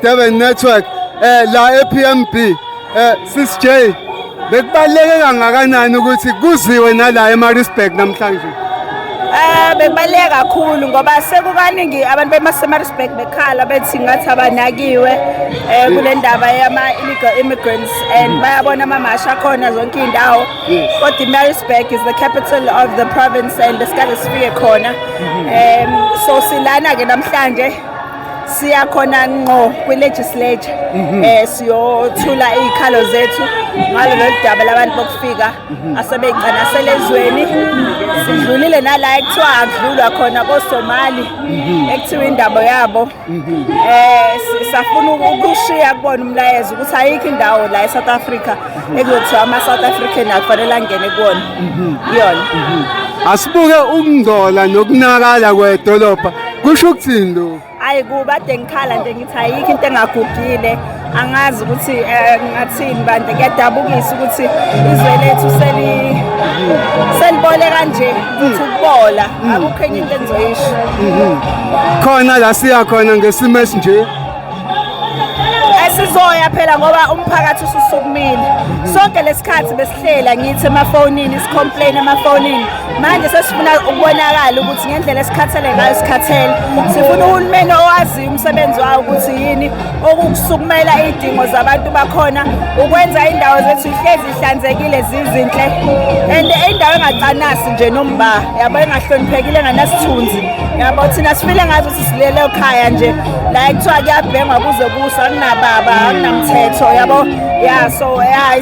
Durban Network eh la ePMB eh sis J bekubaleke kangakanani ukuthi kuziwe nala eMaritzburg namhlanje Eh bekubaleke kakhulu ngoba sekukaningi abantu bemaseMaritzburg bekhala bethi ngathi abanakiwe eh kule ndaba yama illegal immigrants and bayabona amamasha akhona zonke indawo kodwa iMaritzburg is the capital of the province and the Scottish Sphere khona um so silana ke namhlanje siya khona ngqo kwi-legislature um siyothula iy'khalo zethu ngalo lolu daba labantu bokufika mhm. asebeyigcanasele ezweni sidlulile nala ekuthiwa akudlulwa khona kosomali mhm. ekuthiwa indaba yabo um safuna ukushiya kubona umlayezo ukuthi ayikho indawo la e-south africa ekuyokuthiwa ama-south african akufanele angene kuwona iyona asibuke ukungcola nokunakala kwedolobha kusho ukuthini lokho hayi kuba de ngikhala nje ngithi ayikho into engagugile angazi ukuthi eh, ngathini bande kuyadabukisa ukuthi izwe lethu seli selibole kanje ukuthi ukubola mm. akukho enye into engizoyisho mm-hmm. khona la siya khona ngesimo esinje esizoya phela ngoba umphakathi ususukumile mm-hmm. sonke lesikhathi besi hlela ngithi emafonini sicomplain emafonini manje sesifuna ukubonakala ukuthi ngendlela esikhathele ngayo sikhathele sifuna uhulumeni owaziyo umsebenzi wawo ukuthi yini okukusukumela iy'dingo zabantu bakhona ukwenza iy'ndawo zethu ihlezi ihlanzekile zizinhle and indawo engacanasi nje nomba yabo engahloniphekile enganasithunzi yabo thina sifile ngazo ukuthi silele ekhaya nje la kuthiwa kuyabhengwa kuze kusa kunababa akunamthetho yabo ya so ya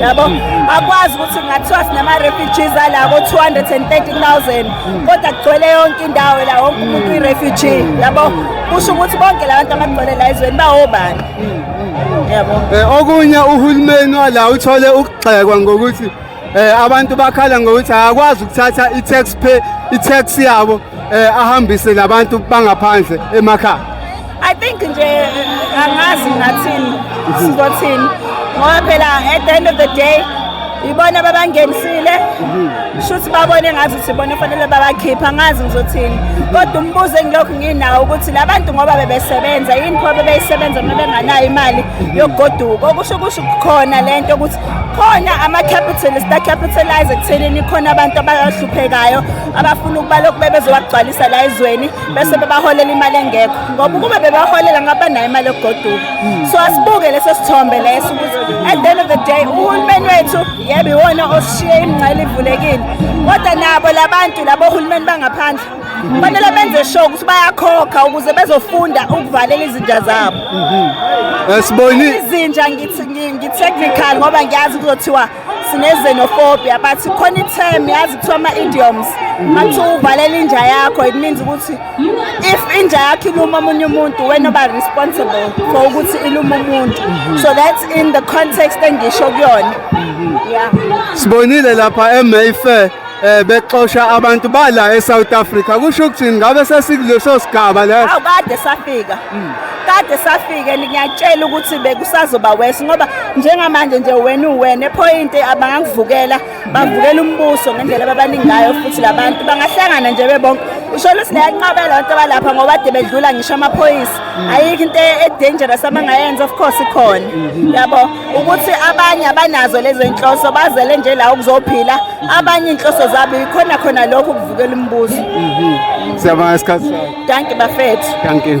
yabo akwazi ukuthi kungathiwa sinama-refugees ala ko-230,000 kodwa kugcwele yonke indawo la wonke umuntu uyi-refugee yabo kusho ukuthi bonke la bantu abagcwele la ezweni bawobani yabo Eh, okunye uhulumeni wala uthole ukugxekwa ngokuthi eh, abantu bakhala ngokuthi akakwazi ukuthatha i-tax pay i-tax yabo eh, ahambise labantu bangaphandle emakhaya I think nje angazi ngathini sizothini ngoba phela at the end of the day ibona babangenisile shuthi babone ngathi ukuthi bona fanele babakhipha ngazi ngizothini kodwa umbuzo engilokhu nginawo ukuthi labantu ngoba bebesebenza yini pho bebeyisebenza uma benganayo imali yokugoduka okusho kusho khona lento ukuthi khona ama-capitalist acapitalize ekuthenini khona abantu abahluphekayo abafuna ukuba lokhu bebezowagcwalisa la ezweni bese bebaholela imali engekho ngoba ukube bebaholela ngabe banayo imali yokugoduka so asibuke leso sithombe leso ukuthi at the end of the day uhulumeni wethu yebo iwona osishiye imingcele ivulekile kodwa nabo labantu labo hulumeni bangaphandle kufanele benze sure ukuthi bayakhokha ukuze bezofunda ukuvalela izinja zabo mhm. eh, siboni izinja ngithi ngi-technical ngoba ngiyazi kuzothiwa sinezenophobia but khona i-term yazi kuthiwa ama-idioms mathi uvalela inja yakho it means ukuthi if inja yakho iluma omunye umuntu wena oba responsible for ukuthi iluma umuntu so that's in the context engisho kuyona yeah sibonile lapha emayfair eh bexosha abantu bala eSouth Africa kusho ukuthi ngabe sesikuleso sigaba leso awukade safika Mm. kade safike ngiyatshela ukuthi bekusazoba wesi ngoba njengamanje nje wena uwena ephoyinti abangakuvukela bavukela umbuso ngendlela ababaningi ngayo futhi labantu bangahlangana nje bebonke usho ukuthi liyanqabela abantu abalapha ngoba ade bedlula ngisho amaphoyisa mm. ayikho into edangerous abangayenza of course ikhona mm-hmm. yabo ukuthi abanye abanazo lezo inhloso bazele nje la ukuzophila mm-hmm. abanye inhloso zabo ikhona khona lokho ukuvukela umbuso mm-hmm. siyabonga isikhathi danki bafethu danki